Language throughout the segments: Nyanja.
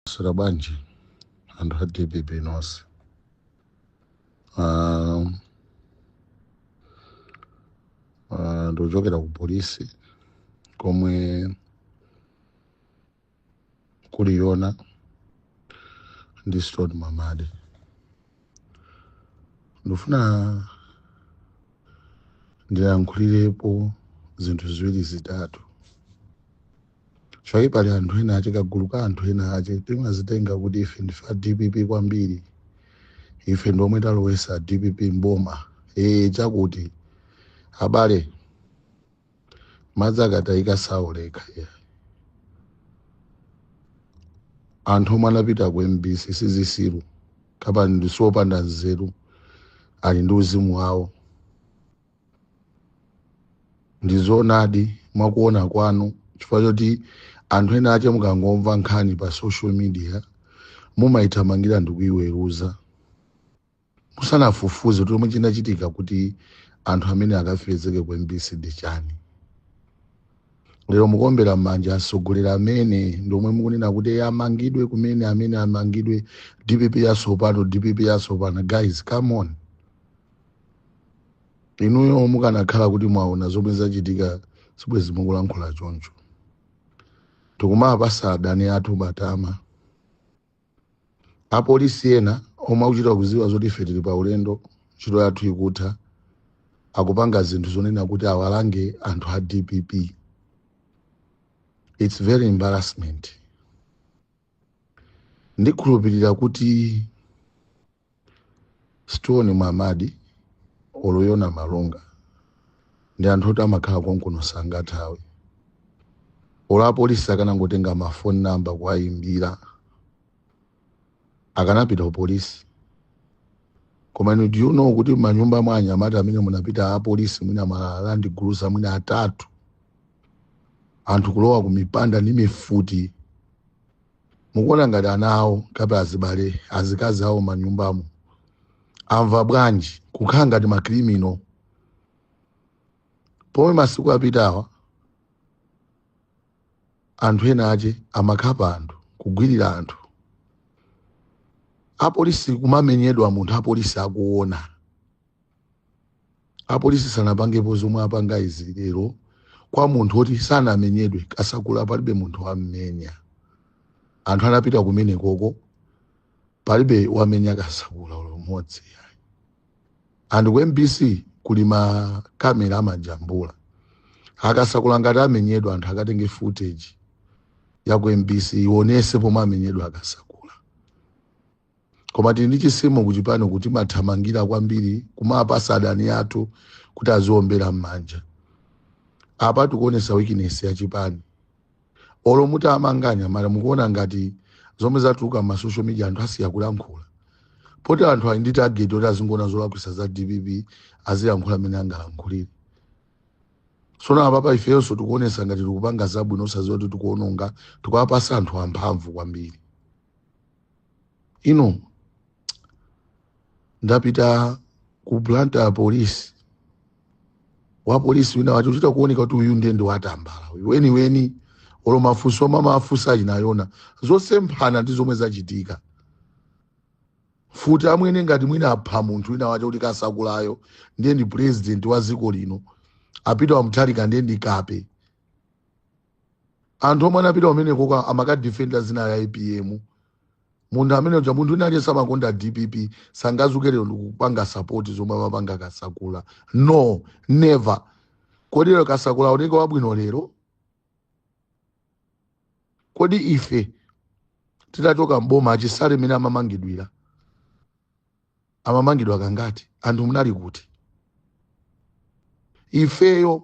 Sera bwanji anthu a dpp nonse Ah, ah, ndikuchokera ku polisi komwe kuli yona ndi stone mwamadi ndifuna ndilankhulirepo zinthu ziwiri zitatu Chifukwa pali anthu ena ache kagulu ka anthu ena ache timazitenga kuti ife ndife a dpp kwambiri ife ndi omwe talowesa a dpp mboma ee chakuti abale madzi akatayika saoleka yeah. anthu omwe anapita ku mbc sizisiru kapena ndisiopanda nzeru ali ndi uzimu wawo ndizoonadi mwakuona kwanu chifukwa choti anthu ena ache mukangomva nkhani pa social media mumayithamangira ndikuyiweruza musanafufuze kuti chomwe chinachitika kuti anthu amene akafezeke ku mbc ndi chani lero mukuombera m'manja atsogoleri amene ndiomwe mukunena kuti "Eh, amangidwe kumene amene amangidwe dpp yasopano dpp yasopano guys come on inuyo mukanakhala kuti mwaona zomwe zachitika sibwezi mukulankhula choncho tikumapasa adani athu matama apolisi ena omwe akuchita kuziwa zoti ife tili pa ulendo ntchito yathu ikutha akupanga zinthu zonena kuti awalange anthu a dpp its very embarrassment ndikhulupirira kuti stone mwamadi olo yona malunga ndi anthu oti amakhala konkuno sangathawe olo apolisi akanangotenga mafoni namba kuwayimbira akanapita kupolisi koma inu do you know kuti manyumba mwa anyamata amene munapita apolisi mwina malandi gulusa mwina atatu anthu kulowa kumipanda ndi mifuti mukuona ngati ana awo kapena azibale azikazi awo manyumbamo amva bwanji kukhala ngati makrimino pomwe masiku apitawa anthu ena ache amakhapa anthu kugwirira anthu apolisi kumamenyedwa munthu apolisi akuona apolisi sanapangepo zomwe apanga izi lero kwa munthu oti sanamenyedwe kasakula palibe munthu wammenya anthu anapita kumene koko palibe wamenya kasakula olo mmodzi ayi. and ku mbc kuli ma kamera amajambula akasakula ngati amenyedwa anthu akatenge footage ya ku mbc ionese pomwe amenyedwa akasakula koma tili ndi chitsimo kuchipani kuti mathamangira kwambiri kumapatsa adani athu kuti aziombera m'manja apa tikuonesa weakness ya chipani olo muti amanganya mara mukuona ngati zomwe zatuluka mwa social media anthu asiya kulankhula poti anthu ali ndi target oti azingoona zolakwitsa za dpp azilankhula amene angalankhulire sono apapa ifeyonso tikuonesa ngati tikupanga zabwino osadziwa kuti tikuononga tikuwapatsa anthu amphamvu kwambiri ine ndapita ku blantyre polisi wa polisi wina wache ochita kuoneka kuti uyu ndiye ndi watambala uyu weniweni olo mafunso omwe amawafunsa achina yona zosemphana ndi zomwe zachitika futi amwene ngati mwina apha munthu wina wache kuti kasakulayo ndiye ndi president wa dziko lino apite wa mutharika ndiye ndi kape anthu omwe anapita kumenekoko amakadifenda zina la apm munthu amene uja munthu wina aliyense wokonda dpp sangadzuke lero ndikupanga sapoti zomwe amapanga kasakula no never kodi lero kasakula aoneke wabwino lero kodi ife titachoka mboma a chisale mmene amamangidwira amamangidwa kangati anthu munali kuti ifeyo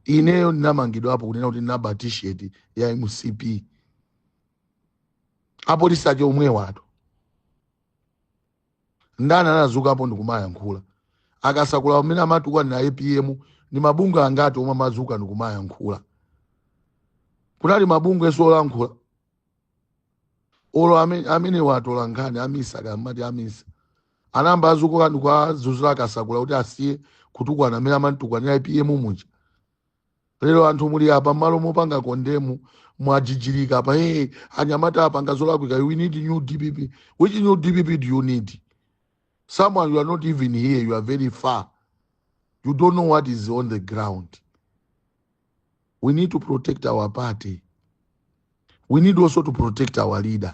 ineyo ndinamangidwapo kunena kuti ndinaba t-shirt ya mcp apolisi ake omwewatu ndani anadzukapo ndikumayankhula akasakula mmene amatukwana apm ndi mabungwe angati omwe amadzuka ndikumayankhula kunali mabungwenso olankhula olo amene amene atolankhani a misa kamati a misa anayamba adzuka ndikuwadzudzula akasakula kuti asiye kutukwana mmene amamtukwanira apm muja lero anthu muli apa mmalo mopanga kondemu mwajijirika apa hey, anyamata apanga zolakwika we need new dpp which new dpp do you need someone you are not even here you are very far you don't know what is on the ground we need to protect our party we need also to protect our leader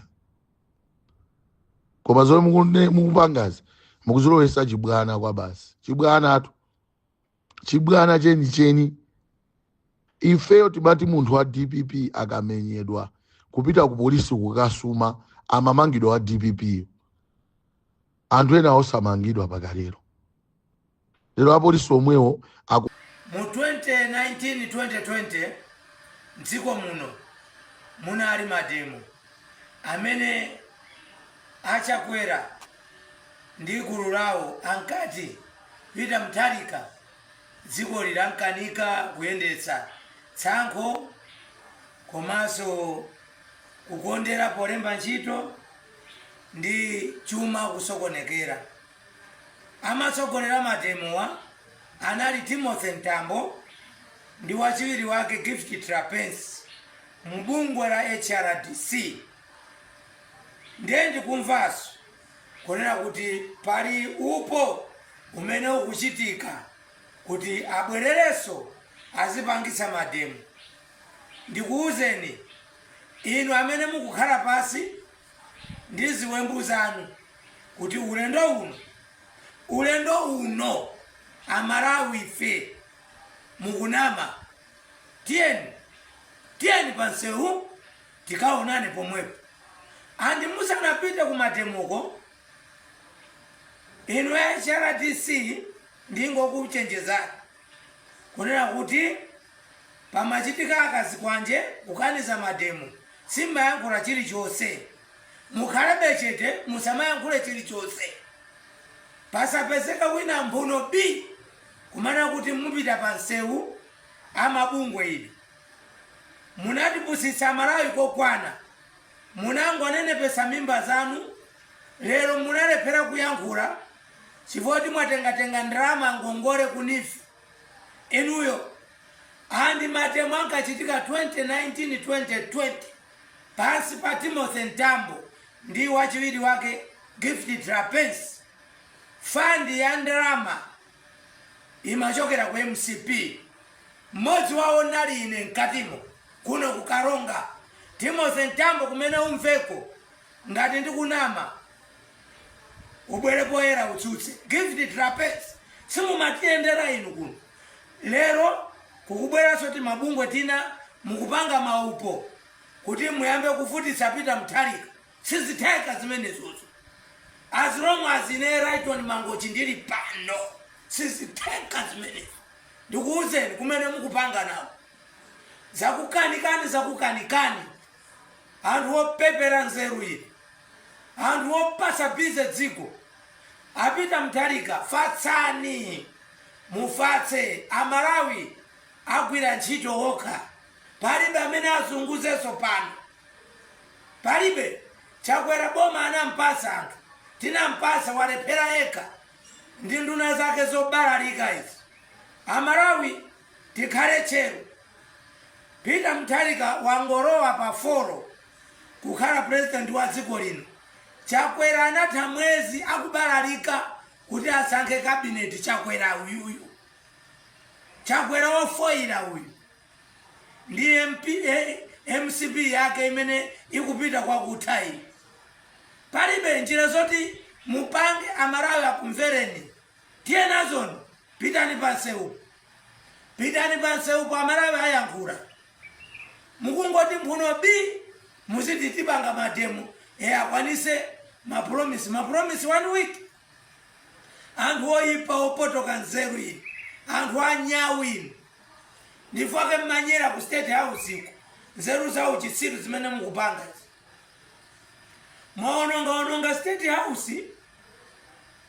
koma zomwe mukune- mukupangazi mukuzilowesa chibwana kwabasi chibwanatu chibwana chenicheni ifeyo timati munthu wa dpp akamenyedwa kupita ku polisi kukasuma amamangidwa wa dppyo anthu ena osamangidwa mpaka lero Lero apolisi omwewo. Mu 2019 2020 mdziko muno munali mademo amene a Chakwera ndi gulu lawo ankati Peter Mutharika dzikoli lamkanika kuyendetsa, tsankho komanso kukondera polemba ntchito ndi chuma kusokonekera. Amatsogolera mademowa anali Timothy Mtambo ndi wachiwiri wake Gift Trapence mu bungwe la HRDC ndiye ndikumvaso kunena kuti pali upo umene ukuchitika kuti abwerereso azipangitsa mademo. Ndikuuzeni inu amene mukukhala pasi ndi ziwembu zanu kuti ulendo uno ulendo uno amalawi ife mukunama tiyeni tiyeni pansewu tikaonane pomwepo andi musanapite kumademoko inu hrdc ndingokuchenjezani kunena kuti pamachitika azikwanje kukaniza mademo simmayankhula chilichonse mukhalebe chete musamayankhule chilichonse pasapezeka wina mphuno bi kumanama kuti mupita pa nsewu amabungwe inu munatipusitsa amalawi kokwana munangonenepesa mimba zanu lero munalephera kuyankhula chifukwa kuti mwatengatenga ndalama ngongole ku NEEF inuyo and mademo ankachitika 2019 2020 pansi pa timothy mtambo ndi wachiwiri wake gift trapence fandi ya ndalama imachokera ku mcp mmodzi wawo ndinali ine mkatimo kuno kukaronga timothy mtambo kumene uliko ngati ndikunama ubwere poyera utsutse gift trapence simumatiyendera inu kuno lero kukubweranso timabungwe tina mukupanga maupo kuti muyambe kuvutitsa peter mutharika sizitheka zimenezozo as long as ine lyton mangochi ndili pano sizitheka zimenezo ndikuwuzeni kumene mukupanga nawo zakukanikani zakukanikani anthu opepera nzeru inu anthu opasa bize dziko a Peter Mutharika fatsani mufatse amalawi agwira ntchito wokha palibe amene azunguzeso pano palibe chakwera boma anampasa anthu tinampasa walephera yekha ndi nduna zake zobalalika izi amalawi Tikhale tcheru. Peter Mutharika wangolowa pa folo kukhala president wa dziko lino. Chakwera anatha mwezi akubalalika kuti asankhe cabinet Chakwera uyuyu. Chakwera wofoila uyu. Ndi MP, eh, mcp yake imene ikupita kwakutha iyi. Palibe njira zoti mupange amalawi akumvereni. Tiye nazoni, pitani pa nsewupo, pitani pa nsewupo, amalawi ayankhula. Mukungoti mphuno bi, muziti tipanga mademo, e akwanise mapromise, mapromise one week. Anthu oyipa opotoka nzeru inu, anthu anyawu inu, ndifukwake mmanyera ku state house iko, nzeru za uchitsiru zimene mukupanga izi. mwaonongaononga state house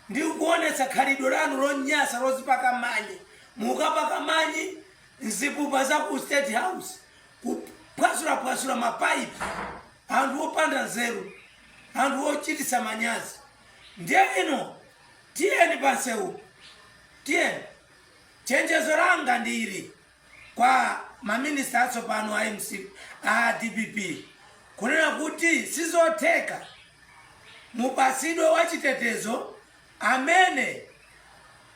ndi kuonetsa khalidwe lanu lonyasa lozipaka manyi mukapaka manyi mzipupa za ku state house kuphwasulaphwasula mapaipi anthu opanda nzeru anthu ochititsa manyazi ndiye ino tiyeni pansewu tiyeni chenjezo langa ndi ili kwa ma minister atsopano a mcp a dpp kunena kuti sizotheka mupasidwe wachitetezo amene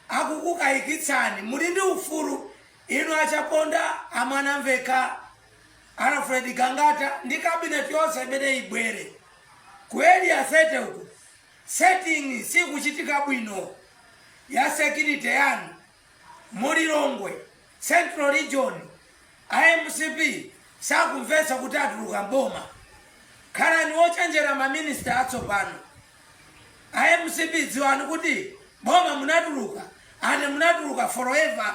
akukukayikitsani muli ndi ufulu inu achaponda a Mwanamvekha alfred gangata ndi kabineti yonse imene ibwere ku area 30 uku setting sikuchitika bwino ya security yanu Mu Lilongwe central region a mcp sakumvetsa kuti atuluka m'boma. Khalani ochenjera ma minister atsopano. A mcp dziwani kuti boma munatuluka and munatuluka forever.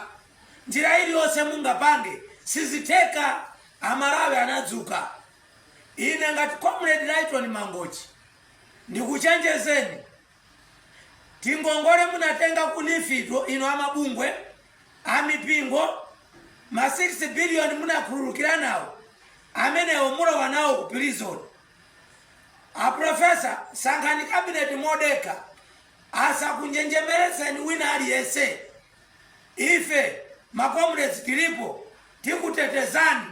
Njira iliyonse mungapange sizitheka. A Malawi anadzuka. Ine ngati comrade Lyton Mangochi ndikuchenjezeni tingongole munatenga ku nifito ino amabungwe amipingo ma 6 billion munakhululukira nawo amenewo mulowa nawo ku prison aprofesa sankhani kabineti modekha asakunjenjemeretseni wina aliyense ife makomredi tilipo tikutetezani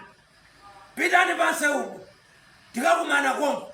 pitani panse uku tikakumana konko